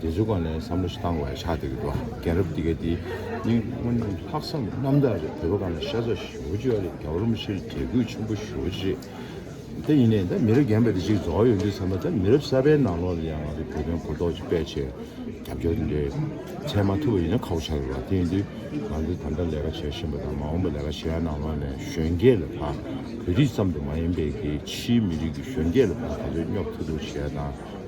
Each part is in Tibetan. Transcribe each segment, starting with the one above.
རྗེ་བཙུན་གང་ནས་བསམ་བློ་ཞིག་བཏང་བས་ཕྱག་དེ་གི་འགྲོ་རྒན་རབས་འདི་གའི་དེ་ནི་སྔོན་ལྷག་བསམ་རྣམ་དག་རེད་བོད་པ་གང་ནས་ཤ་ཚ་ཞོ་ཅི་ཡོད་རེད་རྒྱ་རོམ་ཕྱིར་རྒྱལ་ཁུག་ཆེན་པོ་ཞོ་ཅི་རེད་ད་ཡིན་ནས་ད་མི་རབས་རྒན་པ་དེ་ཅིག་རྫོགས་ཡོང་དུས་བསམ་པ་ད་མི་རབས་གསར་པའི་ནང་ལོག་ལ་ཡང་ང་ཚོ་བོད་དོན་གོ་རྟོགས་ཅིག་སྤེལ་ཆེད་རྒྱབ་སྐྱོར་དེ་འདྲའི་ཚད་མ་ཐུབ་པ་ཡིན་ན་ཁག་པོ་ཆགས་ཡོད་པ་དེ་ཡིན་དུས་ང་ཚོ་ད་ལྟ་ལས་ཀ་བྱས་ཤིན་པ་དང་མ་འོངས་པ་ལས་ཀ་བྱེད་ཡ་ནང་ལོག་ནས་གཞོན་སྐྱེས་ལ་ད་བོད་རིགས་ཙམ་དུ་མ་ཡིན་པའི་གི་ཕྱིའི་མི་རིགས་ཀྱི་གཞོན་སྐྱེས་ལ་ད་ད་གཟོད་སྙོབ་ཐུབ་ཐུབ་བྱེད་ཡ་དང།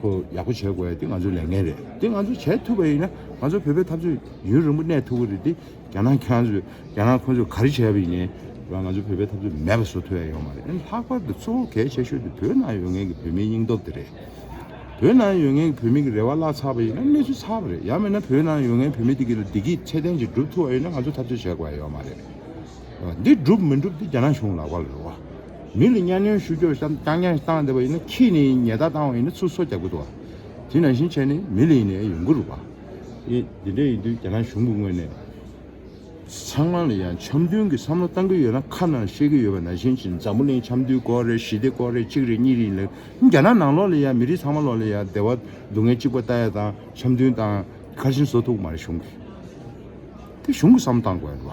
ཁོ་ཡག་པོ་བྱེད་དགོས་ཡ་དེ་ང་ཚོའི་ལས་འགན་རེད་དེ་ང་ཚོ་བྱེད་ཐུབ་པ་ཡིན་ན་ང་ཚོ་བོད་པའི་འཐབ་རྩོད་ཡུན་རིང་པོ་གནས་ཐུབ་ཀྱི་རེད་དེ་རྒྱ་ནག་ཁྱོད་ཚོས་རྒྱ་ནག་ཁོ་ཚོས་ག་རེ་བྱས་པ་ཡིན་རུང་ང་ཚོ་བོད་པའི་འཐབ་རྩོད་མེད་པ་བཟོ་ཐུབ་ཡ་ཡོད་མ་རེད་ལྷག་པར་དུ་གཙོ་བོ་གལ་ཆེ་ཤོས་དེ་བོད་ནང་ཡོད་མཁན་གྱི་བོད་མིའི་སྙིང་སྟོབས་དེ་རེད་བོད་ནང་ཡོད་མཁན་གྱི་བོད་མི་གྱི་རེ་བ་བརླག་ཚར་བ་ཡིན་ན་གནས་ཚུལ་ཚར་བ་རེད་ཡང་མིན་ན་བོད་ནང་ཡོད་མཁན་བོད་མི་དེ་གྱི་ལ་བདེ་སྐྱིད་ཚད་ལྡན་ཅིག་སྒྲུབ་ཐུབ་པ་ཡིན་ན་ང་ཚོ་འཐབ་རྩོད་བྱེད་དགོས་ཡ་ཡོད་མ་རེད། འདི་འགྲུབ་མི་འགྲུབ་དེ་རྒྱ་ནག་གཞུང་ལག་པ་ལ་རོལ་བ། མི་ལ་གཉའ་གནོན་ཞུ་ཕྱོགས་བཤམས་བསྐྱང་བསྐྱང་བཏང་བསྡད་པ་ཡིན་ན་ཁྱེད་ནས་ཉེས་བརྡ་བཏང་བ་ཡིན་ན་ཚུར་གསོ་རྒྱག་དགོས་འདུག་བ། དེ་ནང་བཞིན་བྱས་ནས་མི་ལ་ཡིན་ནའི་ཡོང་གི་རུག་བ། ཨེ་དེ་འདྲ་ཡིན་དུས་རྒྱ་ནག་གཞུང་གི་ངོས་ནས་ཚང་མ་ལ་ཡང་འཆམ་མཐུན་གྱི་བསམ་བློ་བཏང་གི་ཡོད་ན་ཁ་ནང་བཤད་གི་ཡོད་པ་ནང་བཞིན་གྱི་འཛམ་བུ་གླིང་འཆམ་མཐུན་སྐོར་རེད་ཞི་བདེ་སྐོར་རེད་གཅིག་རེད་གཉིས་རེད་ཡིན་ལ་རྒྱ་ནག་ནང་ལོག་ལ་ཡང་མི་རིགས་ཚང་མ་ལོག་ལ་ཡང་བདེ་བ་སྡུག་བསྔལ་གཅིག་པ་ལྟ་ཡ་དང་འཆམ་མཐུན་དང་ཁ་ཞིང་བཟོ་ཐུག་མ་རེད་གཞུང་གི་དེ་གཞུང་གི་བསམ་བློ་བཏང་དགོས་རེད་བ།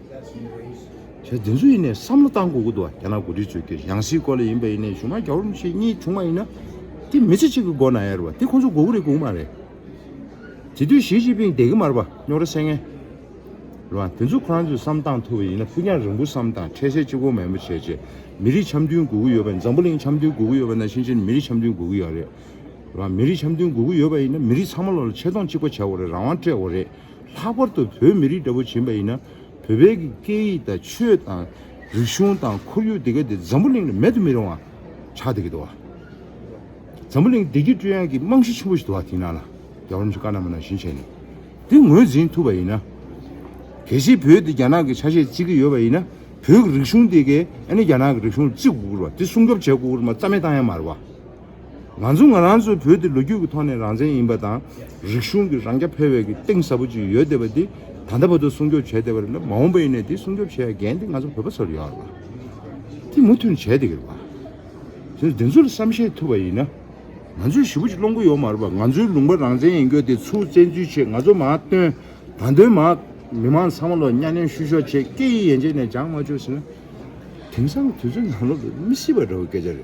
ཞེས་བདེན་བཟོ་ཡིན་ནའི་བསམ་བློ་བཏང་དགོས་ཀྱི་འདུག་རྒྱ་ནག་འགོ་ཁྲིད་ཚོས་ཀྱི་ཡང་སྲིད་སྐོར་ལ་ཡིན་པ་ཡིན་ནའི་གཞུང་མང་གྱ་བོར་མི་ཞིག་གཉིས་བྱུང་བ་ཡིན་ན། དེ་མི་ཚེ་གཅིག་གི་མགོ་ན་ཡར་བ་དེ་ཁོ་ཚོ་མགོ་བོ་རེ་སྒུག་མ་རེད། དེ་དུས་ཞིས་ཅིན་ཕིང་དད་གི་མར་བ་རྙོག་ར་སེལ་ངེས། རེད་བ། དེ་ཚོ་ཁོ་རང་ཚོས་བསམ་བཏང་ཐུབ་པ་ཡིན་ན་ཕུ་ཉག་རིང་པོ་བསམ་དང་འཕྲལ་སེལ་གཅིག་གོ་མེད་མོ་བྱས་རྗེས་མི་རིགས་འཆམ་མཐུན་དགོས་ཀྱི་ཡོད་པ་ཡིན་འཛམ་བུ་གླིང་འཆམ་མཐུན་དགོས་ཀྱི་ཡོད་པ་ན་ཞིང་ཆེན་མི་རིགས་འཆམ་མཐུན་དགོས་ཀྱི་ཡོད་རེད་བ། མི་རིགས་འཆམ་མཐུན་དགོས་ཀྱི་ཡོད་པ་ཡིན་ན་མི་རིགས་ཚང་མ་ལོ་ལ་ཆེ་མཐོང་གཅིག་པ་བྱ་དགོས་རེད་རང་དབང་སྤྲད་དགོས་རེད། ལྷག་པར་དུ་བོད་མི་རིགས་འདྲ་བོ་བྱིན་པ་ཡིན་ན་བོད་པའི་གི་སྐད་ཡིག་དང་ཆོས་དང། རིག་གཞུང་དང་ཁོར་ཡུག་འདི་ག་འདི་འཛམ་བུ་གླིང་ལ་མེད་དུ་མི་རུང་བ་ཆགས་འདི་གི་འདུག་བ། འཛམ་བུ་གླིང་བདེ་སྐྱིད་སྤྲོད་ཡང་གི་རྨང་གཞི་ཆེན་པོ་ཞིག་འདུག་བ་དེའི་ནང་ལ་རྒྱ་བོར་མི་ཆོས་ཀ་ནང་མི་ནང་བཞིན་བྱས་ནས་འདི་ངོས་འཛིན་ཐུབ་པ་ཡིན་ན། གལ་སྲིད་བོད་འདི་རྒྱ་ནག་གི་ཆ་ཤས་བརྩི་གི་ཡོད་པ་ཡིན་ན་བོད་གི་རིག་གཞུང་འདི་གའི་ཨ་ནི་རྒྱ་ནག་གི་རིག་གཞུང་བརྩི་དགོས་ཁུར་བ་དེ་སྲུང་སྐྱོབ་བྱེད་དགོས་ཁུར་མ་རྩ་མེད་བཏང་ཡ་མ་རེད་བ། ང་ཚོ་ང་རང་ཚོའི་བོད་འདི་ལོ་རྒྱུས་ཀྱི་ཐོག་ནས་རང་བཙན་ཡིན་པ་དང་རིག་གཞུང་གི་རང་རྐྱ་འཕེར་བའི་གི་གཏིང་ཟབ་པོ་ཅིག་ཡོད་བསྡད་པ་འདི་ད་ལྟ་བར་དུ་སྲུང་སྐྱོབ་བྱས་བསྡད་པ་རེད་ལ་མ་འོངས་པ་ཡིན་ནའི་འདི་སྲུང་སྐྱོབ་བྱེད་ཡ་འགན་འདི་ང་ཚོ་བོད་པ་ཚོར་ཡོད་ལ། འདི་མུ་མཐུད་ནས་བྱས་བསྡད་གི་རེད་ལ། དེ་འདི་ཚོ་ལ་བསམ་ཤེས་ཐུབ་པ་ཡིན་ན། ང་ཚོས་ཞི་བོ་ཅིག་སློང་གི་ཡོད་མ་རེད་པ་ང་ཚོའི་ལུང་པ་རང་བཙན་ཡིན་སྐྱོ་དེ་ཚུར་བཙན་འཛུལ་བྱེད་ང་ཚོ་མ་བཏོན་ད་འདོན་མ་མི་མང་ཚང་མ་ལོ་གཉའ་གནོན་བཤུ་གཞོག་བྱེད་སྐད་ཡིག་ཡན་ཆད་ནས་སྦྱང་མ་བཅུག་ཟིན་ན། དེང་སང་གི་དུས་ཚོད་ནང་ལོ་ལོན་མི་སྲིད་པ་འདྲ་བོ་སྐད་ཆ་རེད།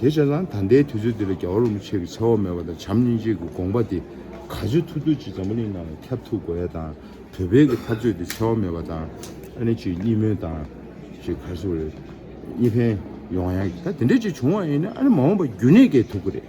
དེ་བྱས་ཙང་ད་ལྟའི་དུས་ཚོད་འདི་ལ་རྒྱ་བ་རུ་མི་ཆོས་ཀྱི་འཚེ་བ་མེད་པ་དང་བྱམས་སྙིང་རྗེ་གི་དགོངས་པ་དེ་ག་ཚོད་ཐུབ་ཐུབ་ཅིག་འཛམ་བུ་གླིང་ནང་ལ་ཁྱབ་ཐུབ་དགོས་ཡ་དང་བོད་བོད་ཀྱི་འཐབ་རྩོད་དེ་འཚེ་བ་མེད་པ་དང་ཨ་ནེ་ཅིག་གཉིས་སྨོན་དང། ཅིག་གར་སོ་རེད། གཉིས་ཕན། ཡོང་ཡ། ད་དེ་འདྲས་ཅིག་བྱུང་བ་ཡིན་ན་ཨ་ནེ་མ་འོངས་པ་རྒྱུན་གནས་སྐྱེལ་ཐུབ་ཀི་རེད།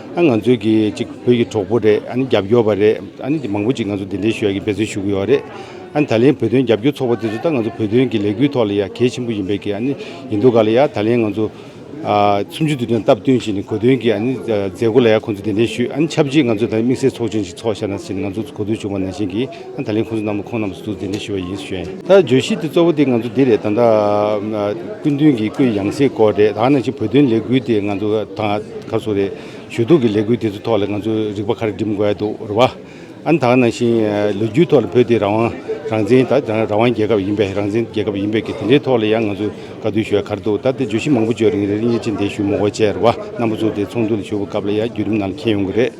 ང་ཚོའི་གི་ཅིག་བོད་ཀྱི་གྲོགས་པོ་རེད་ཨ་ནི་རྒྱབ་སྐྱོར་བ་རེད་ཨ་ནི་མང་པོ་ཅིག་ང་ཚོ་འདི་འདྲའི་ཞུ་བ་ཀྱི་འབད་བརྩོན་ཞུ་གི་ཡོད་རེད་ཨ་ནི་ད་ལན་བོད་དོན་རྒྱབ་སྐྱོར་ཚོགས་པ་དེ་ཚོ་ད་ང་ཚོ་བོད་དོན་གྱི་ལས་འགུལ་ཐོག་ལ་ཡ་གལ་ཆེན་པོ་ཡིན་པའི་གི་ཨ་ནི་ཡིན་འདུག་ག་ལ་ཡ་ད་ལན་ང་ཚོ། སུམ་ཅུ་དུས་སྟོན་སྟབས་བསྟུན་བཞིན་གོ་དོན་གྱི་ཨ་ནི་མཛད་སྒོ་ལ་ཡ་ཁོང་ཚོ་འདི་འདྲའི་ཞུས་ཨ་ནི་ཆབས་ཅིག་ང་ཚོ་དམིགས་བསལ་ཚོགས་ཆེན་ཞིག་ཚོགས་ཤ་ན་ཟིན་ང་ཚོ་གོ་དོན་བྱུང་བ་ནང་བཞིན་གྱི། ད་ལན་ཁོང་ཚོ་རྣམས་ལ་ཁོང་རྣམས་སུ་འདུག་དེ་འདྲ་ཞུ་བ་ཡིན་ཟེར་བྱུང། ད་བརྗོད་གཞི་དེ་གཙོ་བོ་དེ་ང་ཚོ་འདི་རེད་ད། སྐུ་མདུན་གྱི་སྐུའི་ཡང་སྲིད་སྐོར་རེད་ད་ནང་བཞིན་བོད་དོན་ལས་འགུལ་དེ་ང་ཚོ་དང་ཁ་སོ་རེད། ཞུ་གཏུག་གི་ལས་འགུལ་དེ་ཚོའི་ཐོག་ལ་ང་ཚོ་རིག་པ་ཁར་འགྲིམ་དགོས་འདུག་རེད་བ། ཨ་ནི་ད་ནང་བཞིན་ལོ་རྒྱུས་ཐོག་ལ་བོད་དེ་རང་དབང་རང་བཙན་ད་རང་དབང་རྒྱལ་ཁབ་ཡིན་པས་རང་བཙན་རྒྱལ་ཁབ་ཡིན་པས་ཀྱི་དེ་འདྲའི་ཐོག་ལ་ཡང་ང་ཚོ་དཀའ་སྡུག་ཞུ་ཡ་ཁར་འདུག་ད་དེ་བརྗོད་གཞི་མང་པོ་བརྗོད་རིང་རེད་རིགས་གཉིས་ཅན་དེ་ཞུ་མོ་བོ་བྱས་རེད་བ་རྣམ་པ་ཚོ་དེ་ཚོགས་འདུ་ལ་ཞུགས་པ་སྐབས་ལ་ཡང་བརྒྱུད་རིམ་ནང་ལ་མཁྱེན་ཡོང་གི་རེད།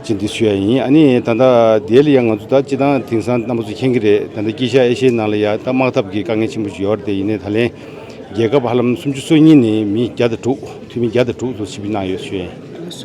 ཅི་འདི་ཆོས་ཡ་ཡིན་ཨ་ནི་ད་ལྟ་འདི་ལ་ཡ་ང་ཚོ་ད་སྤྱི་བཏང་དེང་སང་རྣམ་པ་ཚོ་མཁྱེན་གྱི་རེད་ད་ལྟ་དཀྱིལ་ཤར་ཨེ་ཤེ་ཡའི་ནང་ལ་ཡ་ད་དམག་འཐབ་ཀྱི་དཀའ་ངལ་ཆེན་པོ་ཞིག་ཡོད་རེད་དེ་ཡིན་ནའི་ད་ལན་རྒྱལ་ཁབ་ཧ་ལམ་སུམ་ཅུ་སོ་གཉིས་ནི་མི་བརྒྱ་དང་དྲུག་འཐུས་མི་བརྒྱ་དང་དྲུག་ལྷོ་སི་པི་ནང་ཡོད་ཆོས་ཡིན།